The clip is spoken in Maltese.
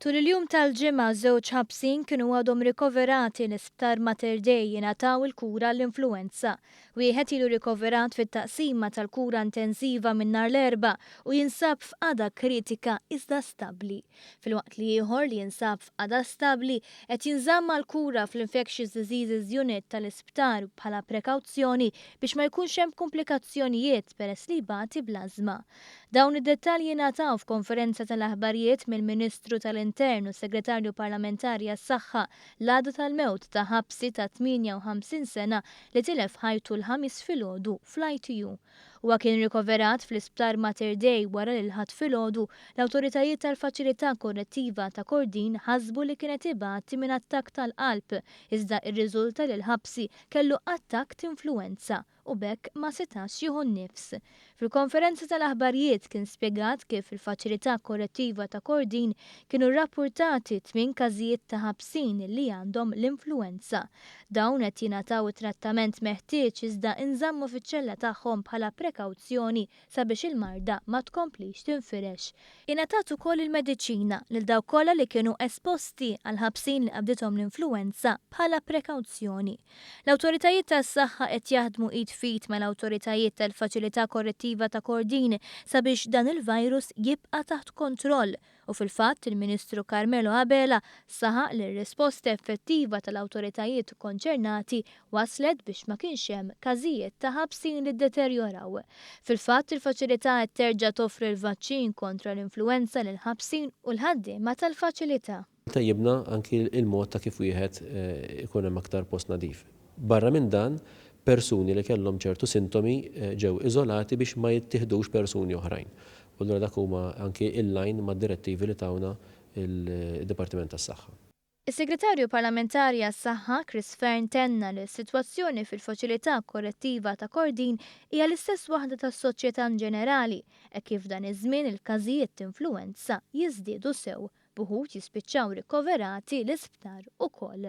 Tul il-jum tal-Ġimgħa żewġ ħabsin kienu għadhom rikoverati l-Isptar Mater Dei jingħataw il-kura għall-influwenza. Wieħed ilu rikoverat fit-taqsima tal-kura intensiva minn nhar l-Erbgħa u jinsab f'qagħda kritika iżda stabbli. Filwaqt li ieħor li jinsab f'qagħda stabbli qed jinżamm għall-kura fl-Infectious Diseases Unit tal-Isptar bħala prekawzjoni biex ma jkunx hemm kumplikazzjonijiet peress li jbati bl-ażma. Dawn id-dettalji ngħataw f'konferenza tal-aħbarijiet mill-Ministru tal-Intern u Segretarju Parlamentari għas-Saħħa l-għada tal-mewt ta' ħabsi ta' 58 sena li tilef ħajtu l-Ħamis filgħodu fl-ITU. Huwa kien rikoverat fl-Isptar Mater Dei wara li l-Ħadd filgħodu l-awtoritajiet tal-Faċilità Korrettiva ta' Kordin ħasbu li kienet ibati minn attakk tal-qalb iżda irriżulta li l-ħabsi kellu attakk t'influwenza. u b'hekk ma setax jieħu n-nifs. Fil-konferenza tal-aħbarjiet kien spjegat kif fil-Faċilità Korrettiva ta' Kordin kienu rrappurtati tmien każijiet ta' ħabsin li għandhom l-influwenza. Dawn qed jingħataw it-trattament meħtieġ iżda inżammu fiċ-ċella tagħhom bħala prekawzjoni sabiex il-marda ma tkomplix tinfirex. Ingħatat ukoll il-mediċina lil dawk kollha li kienu esposti għal ħabsin li qabdithom l-influwenza bħala prekawzjoni. L-awtoritajiet tas-saħħa qed jaħdmu id f'id mal-awtoritajiet tal-Faċilità Korrettiva ta' Kordin sabiex dan il-virus jibqa' taħt kontroll. u fil-fatt il-Ministru Carmelo Abela saħaq li r-risposta effettiva tal-awtoritajiet konċernati wasslet biex ma kienx hemm każijiet ta' ħabsin li ddeterjoraw. Fil-fatt il-faċilità qed terġa' toffri l-vaċċin kontra l-influwenza lill-ħabsin u l-ħaddiema tal-faċilità. Tejjibna anki l-mod ta' kif wieħed ikun hemm aktar post nadif. Barra minn dan, persuni li kellhom ċertu sintomi ġew iżolati biex ma jittieħdux persuni oħrajn. U allura dak huma anki in line mad-direttivi li tawna d-Dipartiment tas-Saħħa. Is-Segretarju Parlamentari għas-Saħħa, Chris Fearne tenna li s-sitwazzjoni fil-Faċilità Korrettiva ta' Kordin hija l-istess waħda tas-soċjetà inġenerali hekk kif f'dan iż-żmien il-każijiet t'influwenza jiżdiedu sew b'uħud jispiċċaw rikoverati l-isptar ukoll.